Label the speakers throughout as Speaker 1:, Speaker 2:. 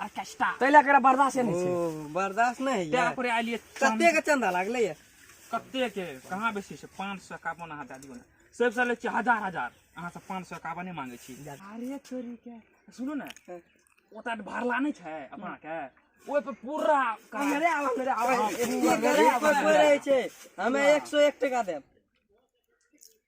Speaker 1: Orchestra तै लए एकरा बर्दाश्त
Speaker 2: नहि छै बर्दाश्त नहि होइए तें
Speaker 1: पर आलिए कते के चंदा लागले
Speaker 2: ये कते के
Speaker 1: कहाँ बेसी छै 551 अहाँ दए दियौ ने सब साल छै हजार हजार अहाँ सब 551 नहि मांगे छी अरे छोरी के
Speaker 2: सुनो ने हाँ।
Speaker 1: ओता भरला नहीं छै अपना के ओहि पर पूरा अरे आवा मेरे
Speaker 2: आवा एक पर रहे छै हमे 101 टका देब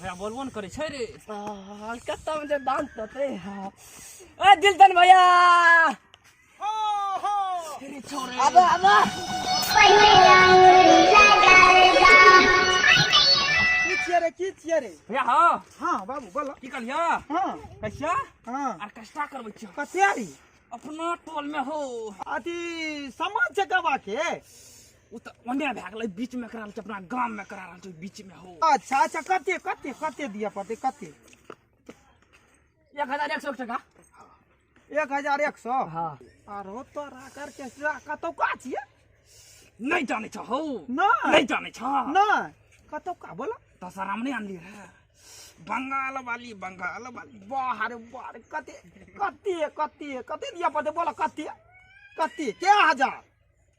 Speaker 1: भैया बोलबो ने करे छै रे कत्ता
Speaker 2: में जे दांत तते ए दिलतन भैया हो हो
Speaker 1: अरे छोरे अबे
Speaker 2: अबे की छियै रे की छियै रे भैया हां हां
Speaker 1: बाबू बोलो
Speaker 2: की कहलिया हां
Speaker 1: कैसा
Speaker 2: हां
Speaker 1: आर कष्टा
Speaker 2: करबै छियो
Speaker 1: कते रे
Speaker 2: अपना
Speaker 1: टोल में हो अथी
Speaker 2: समाज जगवा के ओ तऽ
Speaker 1: ओने भए गेलै बीच में करा रहल छै अपना गाम में करा रहल छै बीच में हो अच्छा अच्छा कते
Speaker 2: कते कते दिअ पड़तै कते एक
Speaker 1: हजार एक सौ एक टका एक हजार एक सौ
Speaker 2: हाँ आरो तोरा करके कतौका छियै नहीं
Speaker 1: जाने छो हो नहीं। नहीं जाने छो
Speaker 2: नहि कतौका बोला दशहरा में नहीं आनली
Speaker 1: रहे बंगाल वाली बंगाल वाली बाहर
Speaker 2: बाहर कते कते कते कते दिअ पड़तै बोला कते कते के हजार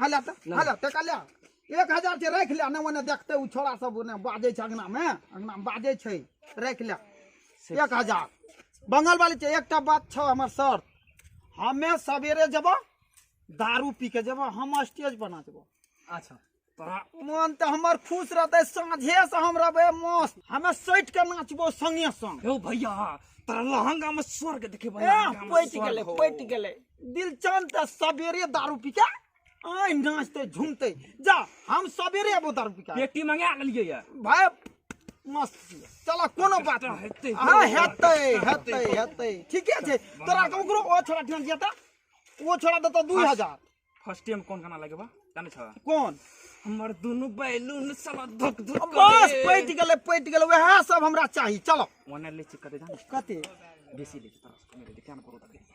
Speaker 2: हला त हला त कल्या एक हजार छै राखि ले नहि ओने देखतै ओ छोरा सब ओने बाजै छै अङ्गनामे अङ्गनामे बाजै छै राखि ले एक हजार बंगाल वाली छै एकटा बात छौ हमर शर्त हमे सवेरे जेबो दारू पी के जेबो हम स्टेज बना जेबो अच्छा मन तऽ हमर खुश रहतै साँझे से हम रहबै मस्त हमे सटि के नाचबो संगे संग यौ भैया
Speaker 1: तोरा लहंगा में स्वर्ग देखेबै ए, लहंगा में पटि स्वर्ग गेलै हो।
Speaker 2: पटि गेलै दिलचंद त सवेरे दारू पी के आय नाचते झूमते जा हम सवेरे अबो दारू पी के पेटी मंगा लेलिए या
Speaker 1: भाय
Speaker 2: मस्त छियै। चलऽ कोनो बात नहि हेतै। हाँ हेतै हेतै हेतै ठीके छै तोरा के ओकरो ओ छोड़ा ध्यान दिया त ओ छोड़ा देतौ दू हजार फर्स्ट टाइम कोन
Speaker 1: गाना लगेबा जाने छ कोन हमर
Speaker 2: दुनु
Speaker 1: बैलून साला धक धक बस पटि गेलै
Speaker 2: पटि गेलै वएह सब हमरा चाही चलो ओने ले छी कते जाने
Speaker 1: कते बेसी
Speaker 2: ले छी तोरा
Speaker 1: से कमे ले छी, क्या न करू तके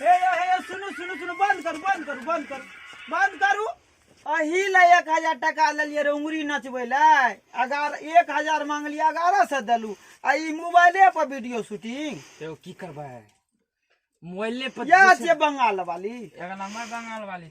Speaker 2: हे यो हे यो सुनू सुनू सुनू बंद करू बंद करू बंद करू बंद करू अही ले एक हजार टाका लेलिए रे उंगरी नचबै ले अगार एक हजार मांगलिए अगारह सौ देलू आ ई मोबाइले पर वीडियो शूटिंग तो की करबै
Speaker 1: मोबाइले पर इएह छियै बंगाल
Speaker 2: वाली एक नंबर बंगाल
Speaker 1: वाली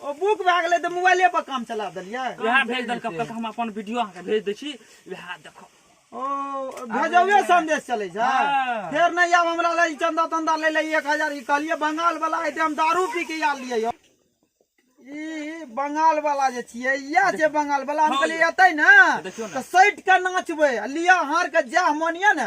Speaker 1: ओ बुक भए
Speaker 2: गेलै तऽ मोबाइले पर काम चला देलियै वएह भेज देलकै कहलक
Speaker 1: हम अपन वीडियो अहाँके भेज दै छी वएह देखो ओ
Speaker 2: भेजौए संदेश चलै छै हाँ। फेर नहीं आब
Speaker 1: हमरा ले
Speaker 2: ई चंदा तंदा ले ले एक हजार ई कहलियै बंगाल वाला एते हम दारू पी के आयल रहियै यौ ई बंगाल वाला जे छियै इएह छै बंगाल वाला हम हँ कहलियै यौ। एतै ने देखियौ ने। तऽ सटि कऽ नाचबै आ लिअ हार के जएह मन यऽ ने